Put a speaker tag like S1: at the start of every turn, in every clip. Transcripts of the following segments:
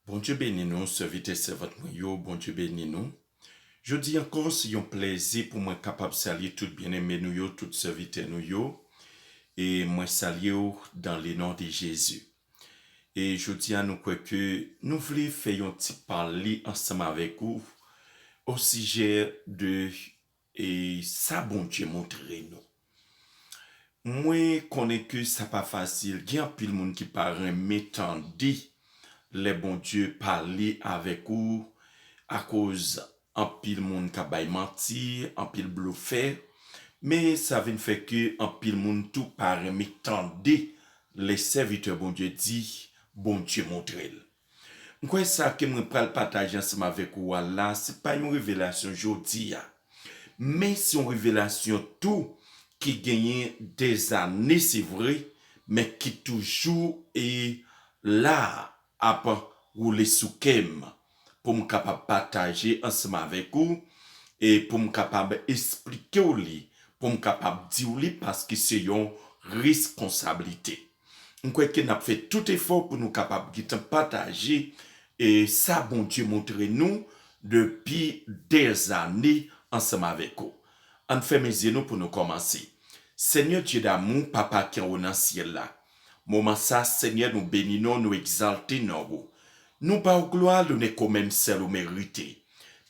S1: Bondye beni nou sèvitè sèvant mwen yo Bondye beni nou Jodi ankò se yon plèzi pou mwen kapab salye tout byeneme nou yo tout sèvitè nou yo e mwen salye w dan le non de Jezi e Jodi a nou kwè ke nou vle fè yon ti pale ansanm avèk ou osijè de E sa Bondye montre nou. Mwen konnen ke sa pa fasil, gen anpil moun ki pa renmen tande lè Bondye pale avèk ou akoz anpil moun kap bay manti, anpil blofè, men sa vin fè ke anpil moun tou pa renmen tande lè sèvitè Bondye di Bondye montre l. M kwè sa ke mwen pral pataje ansanm avèk ou a la se pa yon revelasyon jodi a, men se yon revelasyon tou ki genyen dèzane se vre, men ki toujou e la ap woule sou kè m pou m kapab pataje ansanm avèk ou e pou m kapab esplike w li, pou m kapab di w li paske se yon reskonsablite. M kwè ke n ap fè tout efò pou nou kapab gen tan pataje sa Bondye montre nou depi dèzane ansanm avèk ou. Ann fèmen zye nou pou nou kòmanse. Senyè Dye damou, Papa ki anwo nan syèl la, moman sa a, Senyè, nou beni non w, nou egzalte non ou. Nou ba w glwa, lonè ke w menm sèl ou merite.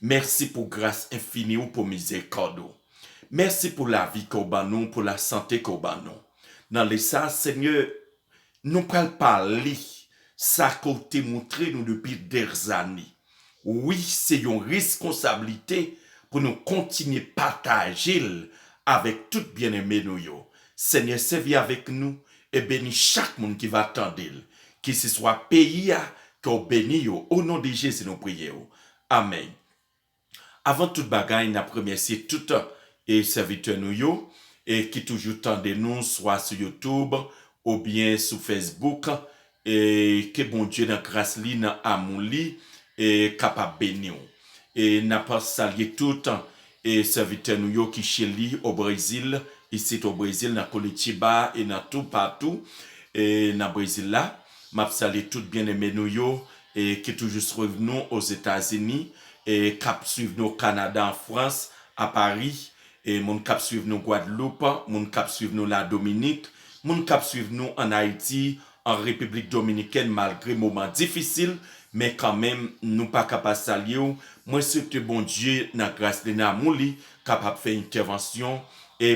S1: Mèsi pou gras enfini ou, pou mizèrikòd ou. Mèsi pou lavi ke w ban nou, pou lasante ke w ban nou. Nan lè sa, Senyè, nou pral pale sa ke w te montre nou depi dèzane. Wi, se yon reskonsablite pou nou kontinye pataje l avèk tout byeneme nou yo. Senyè, sèvi avèk nou e beni chak moun ki va tande l, keseswa peyi a, ke w beni yo. O non de Jezi nou priye w. Amèn. Avan tout bagay nap remèsye tout e sèvitè nou yo e ki toujou tande nou swa sou youtube ou byen sou fesbouk e ke Bondye nan gras li nan amou li e kapab beniw e nap salye tout e sèvitè nou yo ki cheli o brezil isit o brezil nan Curitiba e nan tou patou e nan brezil la map salye tout byeneme nou yo ki toujou swiv nou Ozetazini, k ap swiv nou Kanada, an Frans, a Pari, moun k ap swiv nou Gwadloup, moun k ap swiv nou Ladominik, moun k ap swiv nou ann Ayiti, an Repiblik Dominikèn malgre moman difisil men kanmenm nou pa ka pa salye w, mwen swete Bondye nan gras li nan amou li kapab fè entèvansyon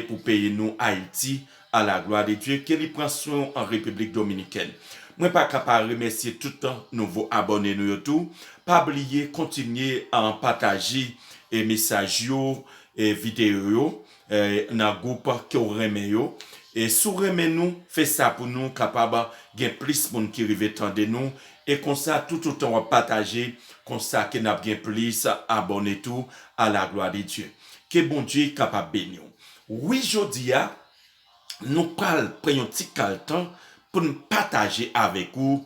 S1: pou peyi nou Ayiti A la glwa de Dye, ke li pran swen w an Repiblik Dominikèn. Mwen pa ka pa remèsye tout nouvo abòne nou yo tou, pa bliye kontinye pataje mesaj yo, videyo yo nan gwoup ke w renmen yo. Si w renmen nou, fè sa pou nou kapab gen plis moun ki rive tande nou, e konsa toutotan w ap pataje, konsa ke n ap gen plis abòne tou, a la glwa de Dye. Ke Bondye kapab beni w. Wi jodi a nou pral pran yon ti kal tan pou n pataje avèk ou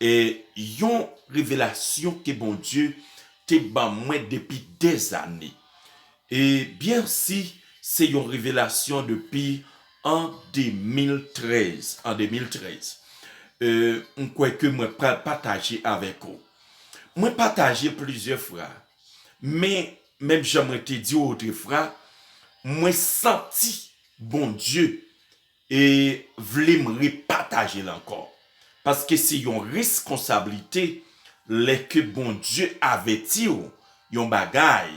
S1: yon revelasyon ke Bondye te ban mwen depi dè zane e byen si se yon revelasyon depi an 2013 an 2013 m kwè ke mwen pral pataje avèk ou mwen pataje plizyè fra Men, menm jan mwen te di ou otrefwa, mwen santi Bondye e vle m repataje l ankò. Paske se yon reskonsablite lè ke Bondye avèti ou yon bagay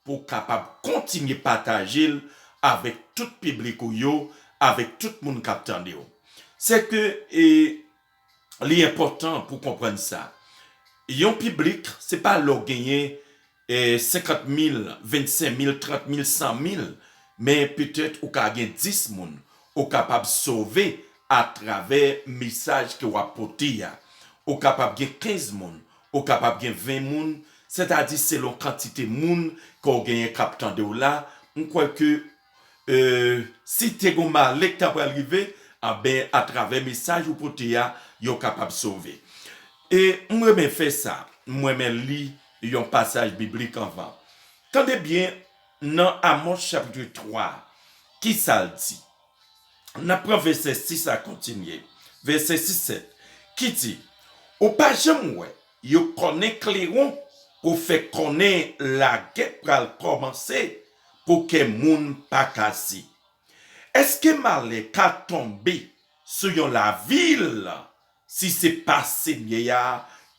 S1: pou w kapab kontinye pataje l avèk tout piblik ou yo, avèk tout moun k ap tande w. Sèke e. li enpòtan pou konprann sa, yon piblik se pa lè w genyen 50 mil, 25 mil, 30 mil, 100 mil, men petèt ou ka gen 10 moun ou kapab sove atravè mesaj ke w ap pote a, ou kapab gen 15 moun, ou kapab gen 20 moun, sètadi selon kantite moun ke w genyen k ap tande w la, m kwè ke si te gon male k ta pral rive, anben atravè mesaj ou pote a, yo kapab sove. E m renmen fè sa, m renmen li yon pasaj biblik anvan. Tande byen nan Amòs chapitre 3, ki sa l di? N ap pran vèsè 6 a kontinye, vèsè 6, 7, ki di, Ou pa janm wè Yo konnen kleron pou fè konnen lagè pral kòmanse pou kè moun pa kase. Èske malè ka tonbe sou yon lavil si se pa Senyè a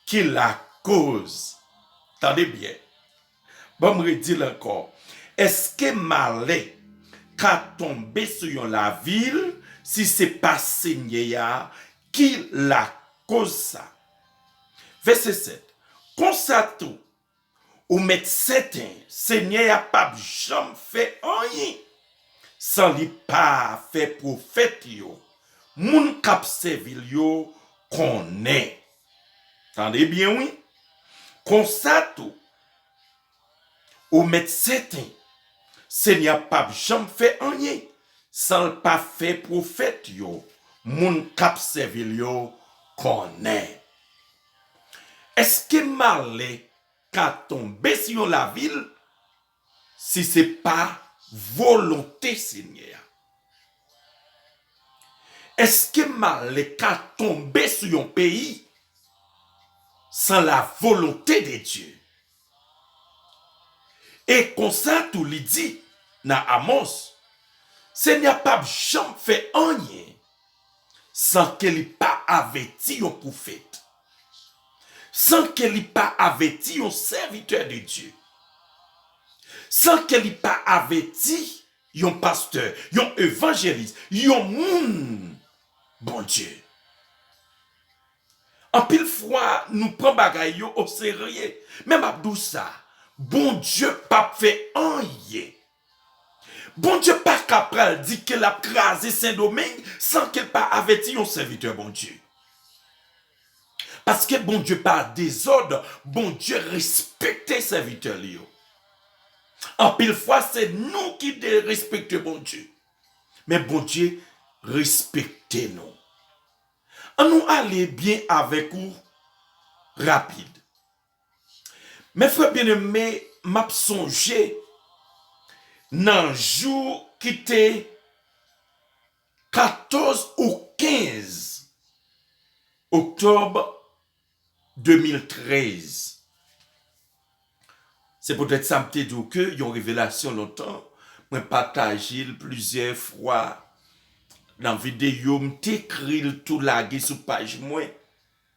S1: ki lakoz? Tande byen, Banm redil ankò, eske malè ka tonbe sou yon lavil si se pa Senyè a ki lakoz sa? Vèsè 7, Konsa tou, ou mèt sèten Senyè a pap janm fè anyen san li pa fè pwofèt yo, moun kap sèvi l yo, konnen. Tande byen wi. Konsa tou, ou mèt sèten Senyè a pap janm fè anyen san l pa fè pwofèt yo, moun k ap sèvi l yo, konnen. Èske malè ka tonbe sou yon lavil? Si se pa volonte Senyè a. Eske malè ka tonbe sou yon peyi san la volonte de Dye? E konsa tou li di nan Amòs, Senyè a p'ap janm fè anyen san ke li pa avèti yon pwofèt. San ke li pa avèti yon sèvitè de Dye. San ke li pa avèti yon pastè, yon evanjelis, yon moun Bondye. Anpil fwa nou pran bagay yo oserye. Men map di w sa, Bondye pap fè anyen Bondye paka pral di ke lap kraze sendomeng san kel pa avèti yon sèvitè Bondye. Paske Bondye pa dezòd, Bondye respekte sèvitè li yo. Anpil fwa se nou ki derespekte Bondye. Men Bondye respekte nou. An nou ale byen avèk ou rapid. Mes frères bien aime map sonje nan jou ki te 14 ou 15 octobre 2013 se poutèt sa m te di w ke yon revelasyon lontan mwen pataje l plizyè fwa nan videyo m te ekri l tou lage sou paj mwen.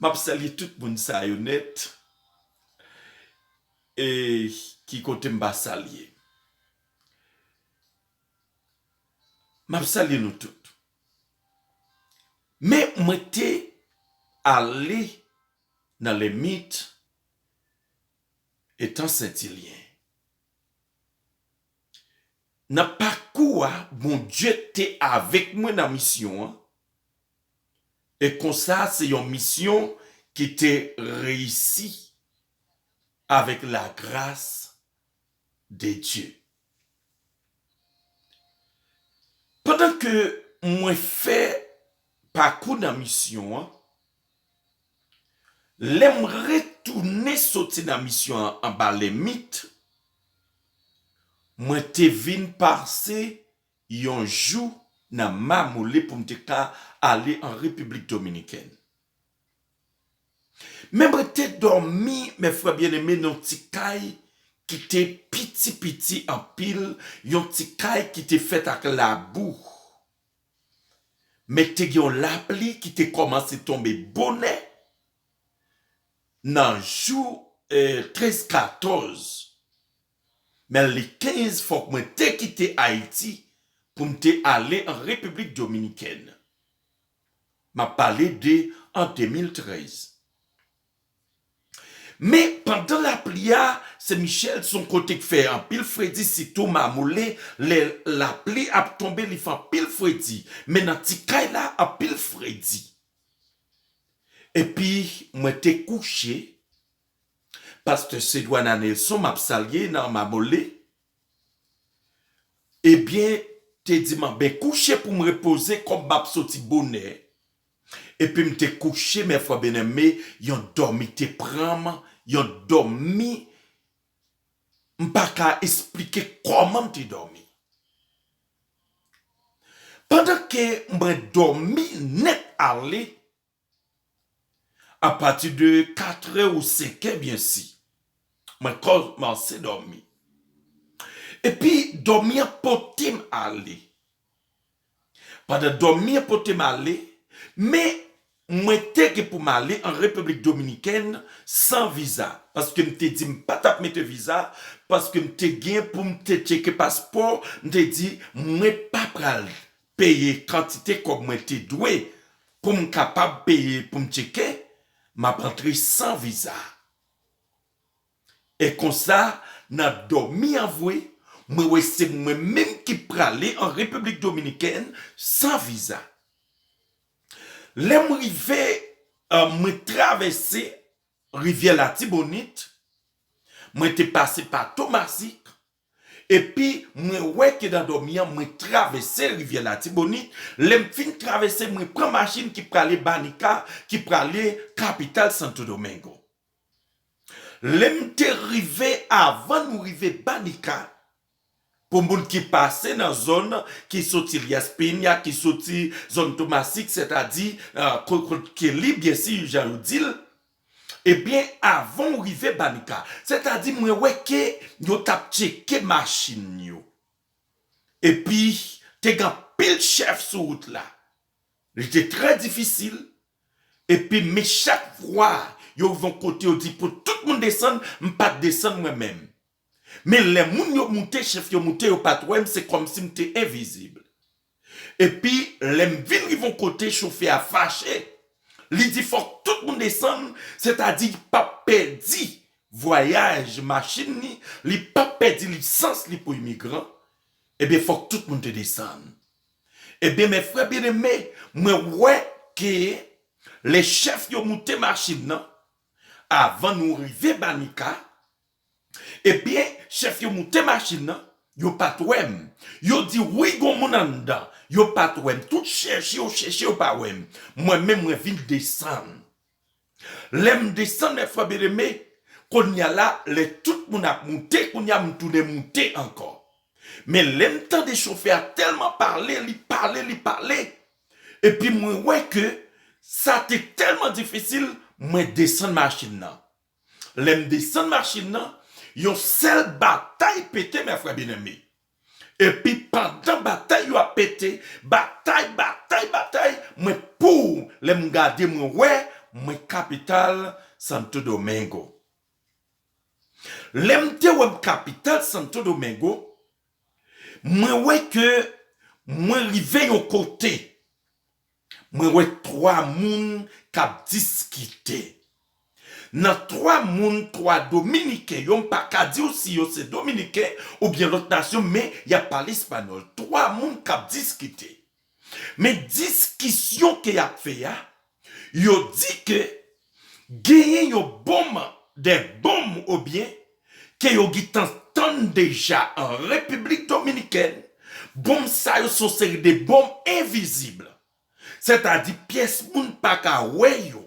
S1: Map salye tout moun sa yo nèt e ki kote m pa salye. Map salye nou tout. Men mwen te ale nan lemit etan sentilyen. Nan pakou a Bondye te avèk mwen nan misyon an. E konsa se yon misyon ki te reyisi avèk lagras de Dye. Pandan ke mwen fè pakou nan misyon an, lè m retounen soti nan misyon an anba Lèmit, mwen te vin pase Yon jou nan mamoule pou m te ka ale an Repiblik Dominikèn. Men mwen te dòmi, mè frè byeneme, nan yon ti kay ki te piti piti anpil, yon ti kay ki te fèt ak labou. Men te gen yon lapli ki te kòmanse tonbe bonè nan jou 13, 14. men an 2015 fòk mwen te kite Ayiti pou m te ale an Repiblik Dominikèn. M ap pale de an 2013. Men pandan lapli a, Sen Michèl se yon kote k fè anpil fredi sitou mamoule lè lapli ap tonbe li fè anpil fredi men nan ti kay la anpil fredi. Epi mwen te kouche Pasteur Cedwana Nelson map salye nan Mamole ebyen te di man ben kouche poum repoze kom map soti bonè epim te kouche mè frè benème yon domi te pranm yon domi mpaka esplike koman mte domi pandan ke mwen domi nèt ale A pati de katre ou senke byen si. Mwen kòmanse dòmi. E pi dòmi an pote m ale. Pandan dòmi an pote m ale, men mwen te gen pou m ale an Repiblik Dominikèn san viza. Paske m te di m pa t ap mete viza. Paske m te gen pou m te tcheke paspò. M te di mwen pa pral peye kantite kòb mwen te dwe pou m kapab peye pou m tcheke m ap antre san viza. E konsa nan dòmi an vwe mwen wè se mwen menm ki prale an Repiblik Dominikèn san viza. Lè m rive mwen travèse rivyè Latibonit, mwen te pase pa Tomasik, Epi mwen wè ke nan dòmi an mwen travèse rivyè Latibonit, lè m fin travèse mwen pran machin ki prale Banica ki prale kapital Santo Domingo. Lè m te rive avan nou rive Banica, pou moun ki pase nan zòn ki soti Elias Peña, ki soti zòn Tomasik sètadi kot Kelly byensi jan yo di l, Ebyen avan ou rive Banica. Sètadi mwen wè ke yo tap tcheke machin yo. Epi te gen anpil chèf sou wout la. Li te trè difisil. Epi men chak vwa yo rive yon kote yo di pou tout moun desann, m pat desann mwen menm. Men lè moun yo moute, chèf yo moute yo pat wè m se kòmsi m te envizib. Epi lè m vin rive yon kote chofè a fache, li di fòk tout moun desann, sètadi li pap pèdi vwayaj machin li, li pap pèdi lisans li pou imigran, ebyen fòk tout moun te desann. Ebyen mè frè byeneme, mwen wè ke lè chèf yo moute machin nan, avan nou rive Banica, Ebyen chèf yo moute machin nan yo pat wèm yo di wi gon moun anndan yo pat wèm tout chèche yo chèche yo pa wèm mwen menm mwen vin desann lèm desann mè frè byeneme kounya la lè tout moun ap moute kounya m tounen moute ankò men lèm tande chofè a tèlman pale li pale li pale epi mwen wè ke sa te tèlman difisil mwen desann machin nan Lè m desann machin nan, yon sèl batay pete, mè frè byeneme. Epi pandan batay yo ap pete, batay, batay, batay, mwen pouw lè m gade mwen wè mwen kapital Santo Domingo. Lè m te wè m kapital Santo Domingo, mwen wè ke mwen rive yon kote. Mwen wè 3 moun kap diskite. Nan 3 moun 3 dominiken yo m pa ka diw si yo se dominiken oubyen lòt nasyon men yap pale espanyòl. 3 moun kap diskite. Men diskisyon ke yap fè a, yo di ke Genyen yon bon man dè bonm o byen ke yo gin tan tann deja an Repiblik Dominikèn, bonm sa yo son seri de bonm envizib, sètadi pyès moun pa ka wè yo.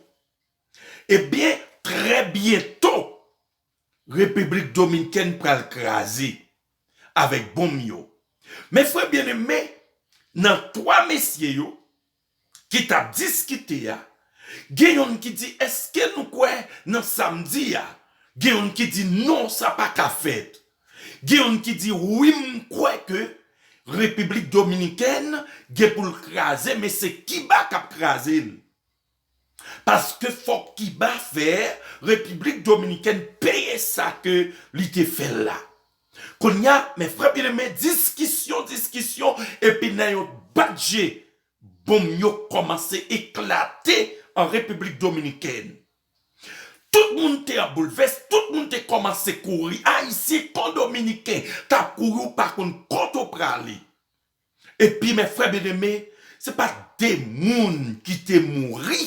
S1: E byen trè byento Repiblik Dominkèn pral kraze avèk bonm yo. Men frè byeneme nan 3 mesye yo ki tap diskite a gen yonn ki di eske nou kwè nan sam di a gen yonn ki di non sa paka fèt gen yonn ki di wi m kwè ke repiblik dominikèn gen poul kraze men se kiba kap kraze l paske fòk kiba fè repiblik dominikèn peye sa ke li te fè la. Konnya men frè byen eme diskisyon diskisyon epi nan yon bat je bonm yo kòmanse eklate an repiblik dominikèn. Tout moun te an boulvès, tout moun te kòmanse kouri ayisyen kon dominiken tap kouri ou pa konn kote w prale. Epi mes frères bien-aimés, se pa de moun ki te mouri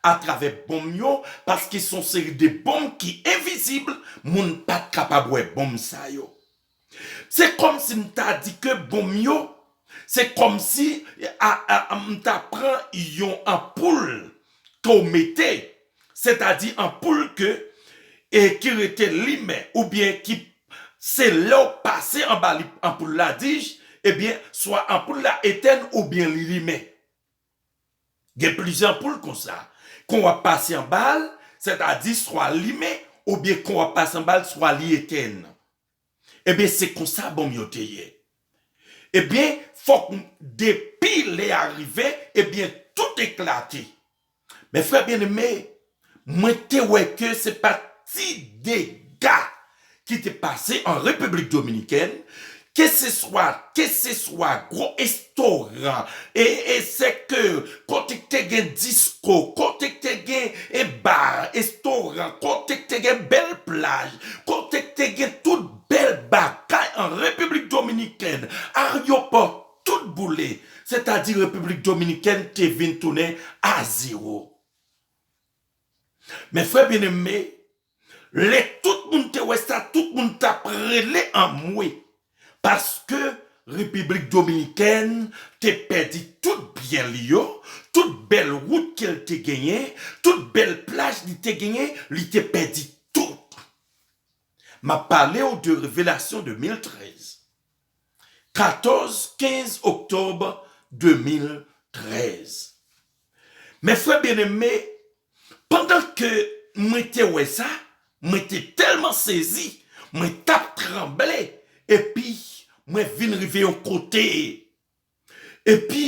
S1: a travè bonm yo paske son seri de bonm ki envizib, moun pat kapab wè bonm sa yo. Se kòmsi m ta di ke bonm yo, se kòmsi m ta pran yon anpoul ke w mete sètadi anpoul ke e ki rete limen oubyen ki se lè w pase anba li anpoul la dij ebyen swa anpoul la etèn oubyen li limen gen plizyè anpoul konsa kon wap pase anba l sètadi swa limen oubyen kon wap pase anba l swa li etèn. Ebyen se konsa bonm yo te ye. Ebyen fok depi lè a rive ebyen tout eklate. Men frè byen eme mwen te wè ke se pa ti dega ki te pase an Repiblik Dominikèn keseswa keseswa gwo Tora, e e sèkè, kote k te gen disko, kote k te gen e bar, estoran, kote k te gen bèl plaj, kote k te gen tout bèl bagay an Repiblik Dominikèn, aryopò, tout boule, sètadi Repiblik Dominikèn te vin tounen a zewo. Mè frè byeneme, Lè tout moun te wè sa tout moun tap rele anmwe paske repiblik dominikèn te pèdi tout byen li yo, tout bèl wout ke l te genyen, tout bèl plaj li te genyen li te pèdi tout. Map pale w de revelasyon 2013. 14, 15 oktòb 2013. Mes frères bien-aimés, pandan ke mwen te wè sa, mwen te tèlman sezi, mwen t ap tranble, epi mwen vin rive yon kote, epi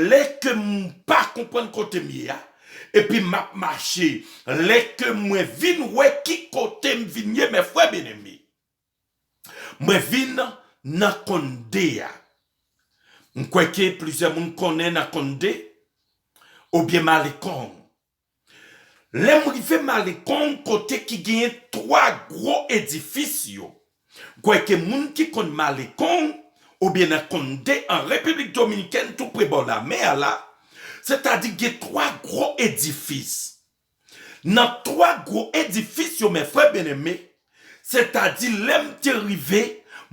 S1: lè ke m pa konprann kote m ye a, epi m ap mache, lè ke mwen vin wè ki kote m vin ye, mes frères bien-aimés. Mwen vin nan Conde a. M kwè ke plizyè moun konnen nan Conde oubyen Malecon. Lè m rive Malecon kote ki genyen 3 gwo edifis yo, m kwè ke moun ki konn Malecon oubyen nan Conde an Repiblik Dominikèn tou pre bò lamè a la, sètadi gen 3 gwo edifis Nan twa gwo edifis yo men frè byeneme, sètadi lè m te rive,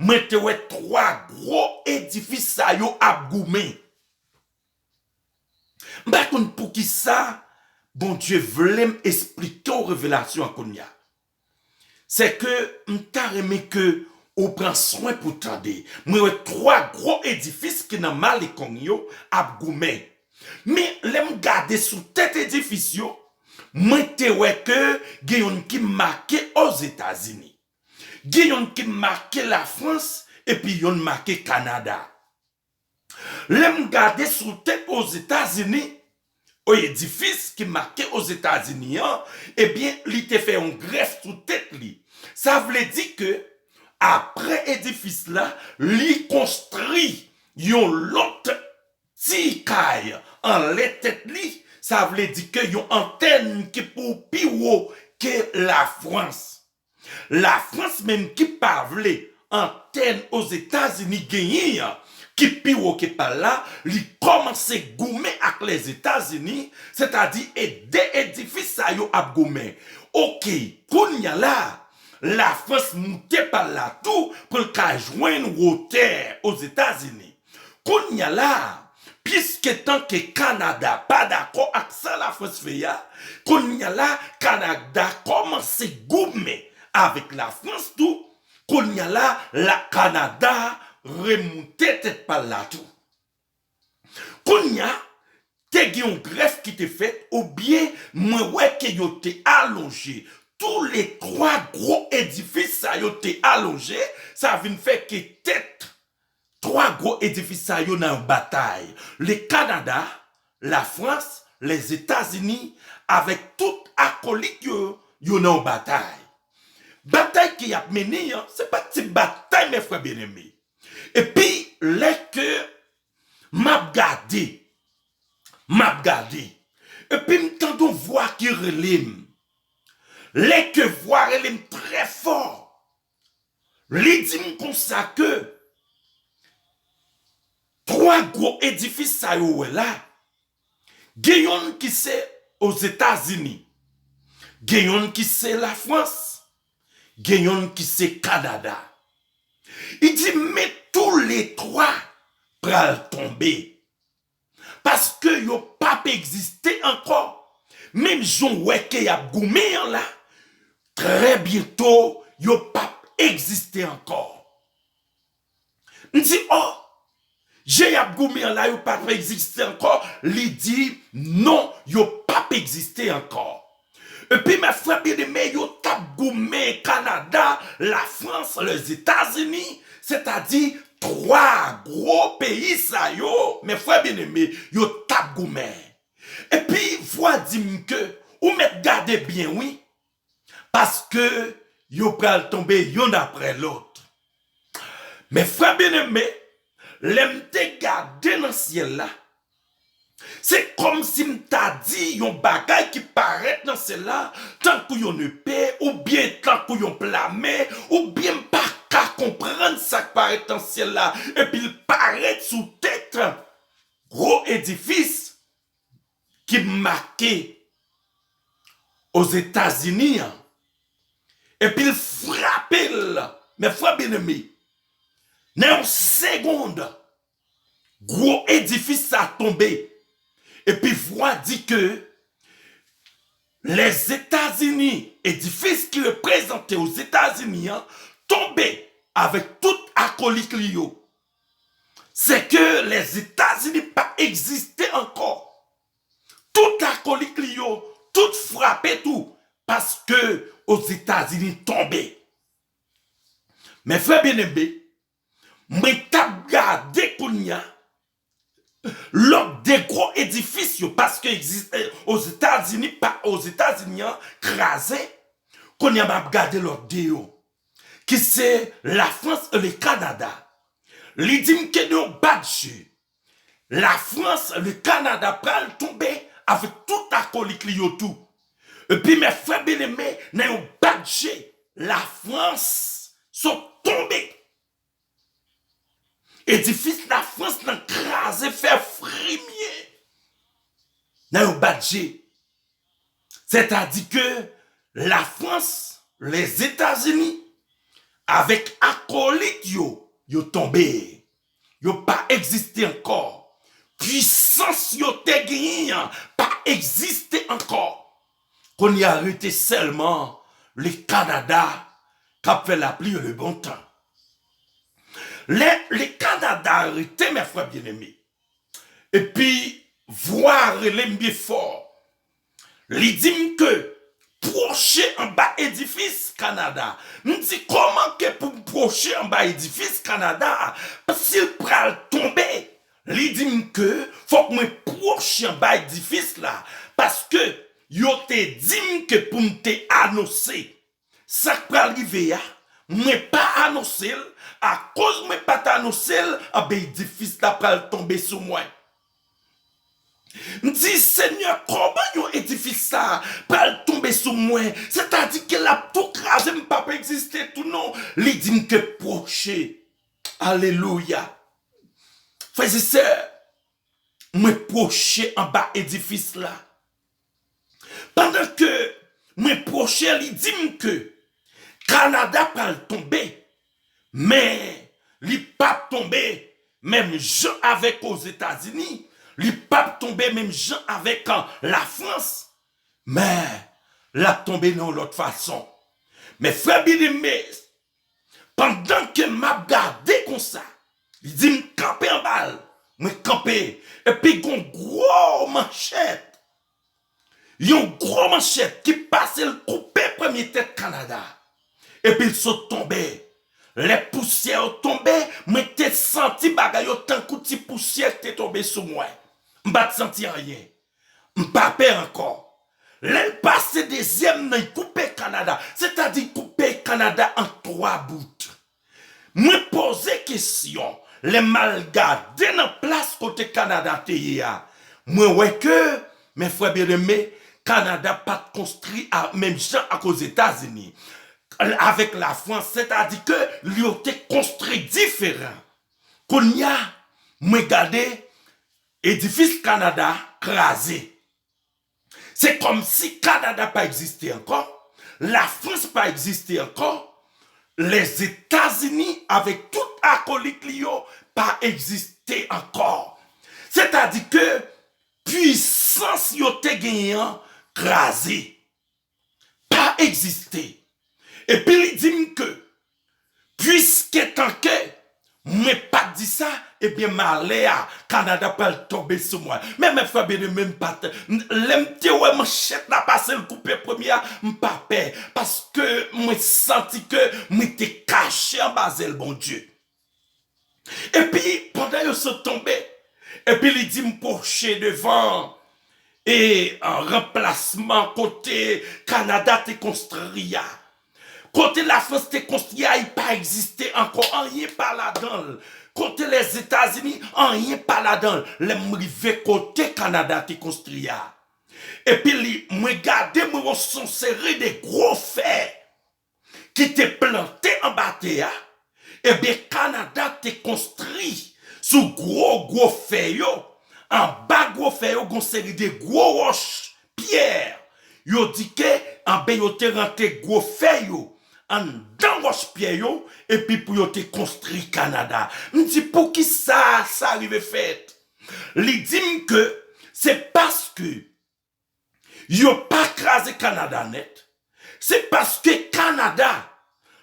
S1: mwen te wè twa gwo edifis sa yo ap goumen. M pa konn poukisa Bondye vle m esplike w revelasyon an kounye a. Se ke m ta renmen ke ou pran swen pou w tande. Mwen wè 3 gwo edifis ki nan Malecon yo ap goumen. Men lè m gade sou tèt edifis yo, mwen te wè ke gen youn ki make Ozetazini. Gen youn ki make Lafrans epi youn make Kanada. Lè m gade sou te Ozetazini, o edifis ki make Ozetazini an, ebyen li te fè yon grèf sou tèt li. Sa vle di ke apre edifis la, li konstri yon lòt ti kay anlè tèt li, sa vle di ke yon antèn ki pou pi wo ke Lafrans. Lafrans menm ki pa vle antèn Ozetazini genyen an ki pi wo ke pa l la, li kòmanse goumen ak Lèzetazini, sètadi e de edifis sa yo ap goumen. Oke, kounya la, Lafrans moute pa l la tou pou l ka jwenn wotè Ozetazini. Konnya la a, piske tan ke Kanada pa dakò ak sa Lafrans fè a, konnya la a Kanada kòmanse goumen avèk Lafrans tou, konnya la a Kanada remoute tèt pa l la tou. Konnya, te gen yon grèf ki te fèt oubyen mwen wè ke yo te alonje, tou le twa gwo edifis sa yo te alonje, sa vin fè ke tèt Twa gwo edifis sa yo nan yon batay le Kanada, la Frans, Lèzetazini avèk tout akolit yo yo nan yon batay. Batay ke yap mennen an se pa ti batay mè frè byeneme. Epi lè ke map gade, map gade epi m tande yon vwa ki rele m. Lè ke vwa rele m trè fò. Li di m konsa ke 3 gwo edifis sa yo wè la, gen yonn ki se Ozetazini, gen yonn ki se Lafrans, gen yonn ki se Kanada. Li di men tou le 3 pral tonbe. Paske yo pap egziste ankò. Menm jan w wè ke y ap goumen an la, trè byento yo pap egziste ankò. M di, O! Jan y ap goumen an la yo pap egziste ankò? Li di, Non, yo pap egziste ankò. Epi mè frè byen eme yo tap goumen Kanada, la Frans, Lèzetazini, sètadi 3 gwo peyi sa yo, mè frè byen eme yo tap goumen. Epi vwa di m ke ou mèt gade byen wi, paske yo pral tonbe yonn aprè lòt. Mè frè byen eme, lè m te gade nan syèl la, Se kòmsi m ta di yon bagay ki parèt nan syèl la tankou yon nepe oubyen tankou yon plame, oubyen m pa ka konprann sa k parèt nan syèl la epi l parèt sou tèt gwo edifis ki make Ozetazini an, epi l frape l, men frè byeneme, nan yon segond, Gwo edifis sa tonbe epi vwa di ke Lèzetazini, edifis ki reprezante Ozetazini an, tonbe avèk tout akolik li yo. Se ke Lèzetazini pa egziste ankò. Tout akolik li yo, tout frape tou paske Ozetazini tonbe. Mè frè byeneme, Mwen tap gade kounya lòk de gwo edifis yo paske egziste ozetazini pa ozetazini an kraze kounya map gade lòt de yo ki se lafrans e le kanada li dim ke nou bat je La frans le kanada pral tonbe avek tout akolik li yo tou epi mè frè byeneme nan yon bat je la frans sot tonbe edifis la frans nan kraze fè frimye nan yon bat je sè ta di ke la frans lèzetazini avek akolik yo yo tonbe Yo pa egziste ankò. Pwisans yo te genyen an pa egziste ankò. Kounye a rete sèlman le Kanada k ap fè lapli e le bon tan. Lè le Kanada rete, mè frè byeneme, epi vwa rele m byen fò, Li di m ke pwoche anba edifis Kanada. M di kòman ke pou m pwoche anba edifis Kanada a, si l pral tonbe? Li di m ke fòk mwen pwoche anba edifis la paske yo te di m ke pou m te anonse. Sak pral rive a mwen pa anonsel akoz mwen pat anonsel anben edifis la pral tonbe sou mwen. Mdi senyè koman yon edifis sa pral tonbe sou mwen sètadi ke lap tou kraze mpap egziste tou non li dim ke pwoche alelouya frèzesè mwen pwoche anba edifis la. Pandan ke mwen pwoche li di m ke Kanada pral tonbe men li pap tonbe menm jan avèk Ozetazini, li pap tonbe menm jan avèk Lafrans men lap tonbe nan yon lòt fason. Men frè byeneme Pandan ke m ap gade konsa, li di m kanpe anba l. Mwen kanpe, epi gon gwo manchèt, yon gwo manchèt ki pase l koupe premye tèt Kanada. Epi l sot tonbe. Lè pousyè yo tonbe, mwen te santi bagay yo tankou ti pousyè ki te tonbe sou mwen. M pa t santi anyen. M pa pè ankò. Lè l pase dezyèm nan y koupe Kanada, sètadi y koupe Kanada an twa bout. Mwen poze kesyon, lè m al gade nan plas kote Kanada te ye a, mwen wè ke, men frè byeneme, Kanada pa t konstri a menm jan ak Ozetazini, avèk Lafrans, sètadi ke li yo te konstri diferan. Kounye a, mwen gade, Edifis Kanada kraze. Se kòm si Kanada pa egziste ankò, Lafrans pa egziste ankò, Lèzetazini avèk tout akolit li yo pa egziste ankò. Sètadi ke pwisans yo te genyen an kraze. pa egziste epi li di m ke puiske tanke mwen pa t di sa ebyen malè a Kanada pral tonbe sou mwen men mè frè byen eme m pa t lè m te wè manchèt la pase l koupe premye a m pa pè paske mwen santi ke mwen te kache anba zèl Bondye. Epi, pandan yo sot tonbe, epi li di m pwoche devan e ranplasman kote Kanada te konstri a. Kote Lafrans te konstri a, li pa egziste ankò, anyen pa ladan l. Kote Lèzetazini, anyen pa ladan l. Lè m rive kote Kanada te konstri a, epi mwen gade, mwen wè yon seri de gwo fè. ki te plante anba tè a, ebyen Kanada te konstri sou gwo gwo fè yo, anba gwo fè yo gon seri de gwo wòch, pyè, yo di ke anben yo te rantre gwo fè yo anndan wòch pyè yo epi pou yo te konstri Kanada. M di poukisa sa rive fèt? Li di m ke se paske. yo pa kraze Kanada nèt, se paske Kanada,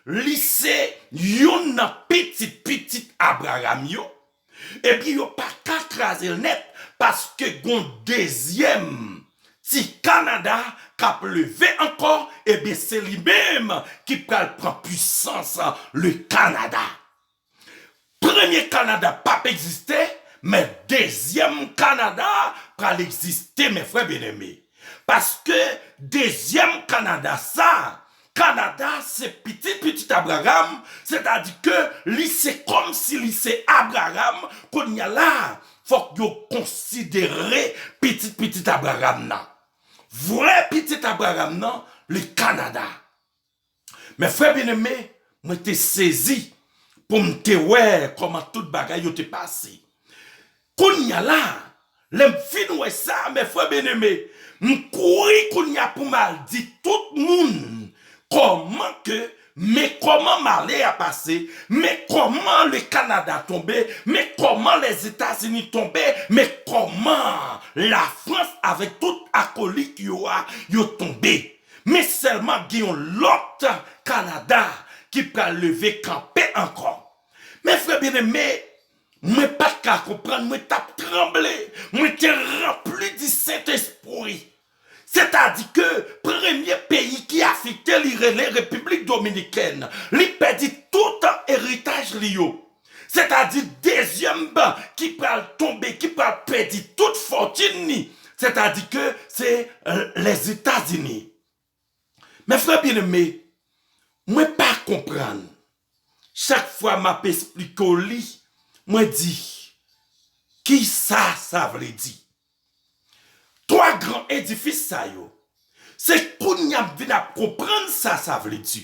S1: li se youn nan pitit pitit Abraram yo, epi yo pa ka kraze l nèt, paske gon dezyèm ti Kanada k ap leve ankò, ebyen se li menm ki pral pran pwisans le Kanada. Premye Kanada pap egziste, men dezyèm Kanada pral egziste mes frères bien aimé. Paske dezyèm Kanada sa, Kanada se pitit pitit Abraham, sètadi ke li se kòm si li se Abraham, kounya la fòk yo konsidere pitit pitit Abraham nan. Vrè pitit Abraham nan li Kanada. Men frè byeneme, mwen te sezi pou m te wè kòman tout bagay yo te pase. Kounya la, lè m fin wè sa, men frè byeneme, m kouri kounya pou m al di tout moun kòman ke, men kòman malè a pase, men kòman le Kanada tonbe, men kòman Lèzetazini tonbe, men kòman Lafrans avèk tout akolik yo a, yo tonbe. Men sèlman ap gen yon lòt Kanada ki pral leve kanpe ankò. Men frè byeneme, mwen pa t ka konprann, mwen t ap tranble, mwen te ranpli di Sentespri. Sètadi ke premye peyi ki afekte li rele Repiblik Dominikèn. Li pèdi toutan eritaj li yo. sètadi dezyèm ban ki pral tonbe, ki pral pèdi tout fòtin ni, sètadi ke se Lèzetazini. Mè frè byeneme, mwen pa konprann, chak fwa m ap esplike w li, mwen di, ki sa sa vle di? Twa gran edifis sa yo, se kounye a m vin ap konprann sa sa vle di.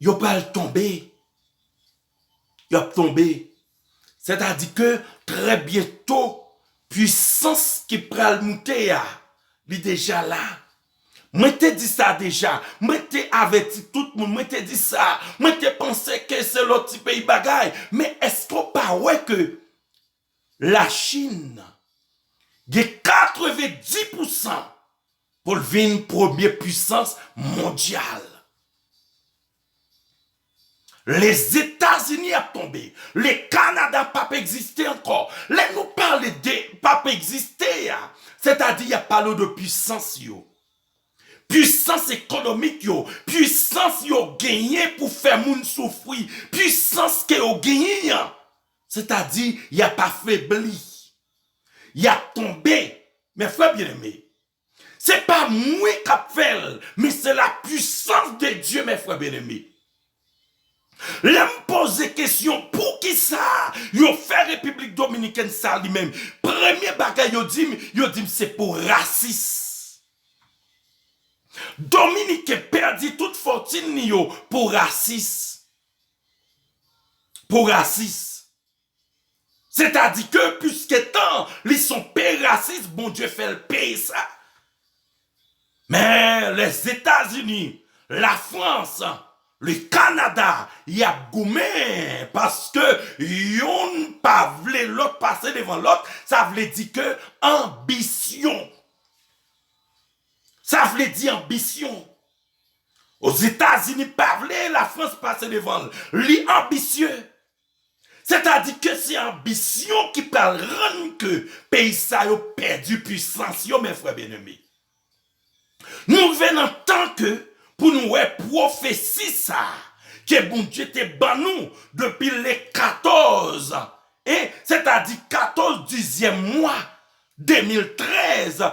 S1: Yo pral tonbe. Yo ap tonbe. Sè ta di ke trè byento pwisans ki pral moute a li deja la. Mwen te di sa deja. Mwen te avèti tout moun. Mwen te di sa. Mwen te panse ke se lòt ti peyi bagay. Men eske w pa wè ke La Chin gen 90 pousan pou l vin premye pwisans mondyal. Lezetazini ap tonbe. Le Kanada p ap egziste ankò. Lè nou pale de p ap egziste a, sètadi y ap pale w de pwisans yo. Pwisans ekonomik yo, pwisans yo genyen pou fè moun soufri, pwisans ke yo genyen an. Sètadi, y ap afebli. Y ap tonbe. Men frè byeneme, se pa mwen k ap fè l, men se lapwisans de Dye, men frè byeneme. Lè m poze kesyon poukisa yo fè Repiblik Dominikèn sa li menm, premye bagay yo di m, yo di m se pou rasis. Dominiken pèdi tout fòtin li yo pou rasis. pou rasis. Setadi ke piske tan li son pe rasis Bondye fè l peye sa. Men Lèzetazini, Lafrans, le Kanada y ap goumen paske youn pa vle lòt pase devan lòt sa vle di ke anbisyon sa vle di anbisyon. Ozetazini pa vle Lafrans pase devan l. Li anbisye. Sètadi ke se anbisyon ki pral rann ke peyi sa yo pèdi pwisans yo mè frè byeneme. Nou rive nan tan ke pou nou wè pwofesi sa a ke Bondye te ban nou depi le 14 e sètadi 14 dizyèm mwa 2013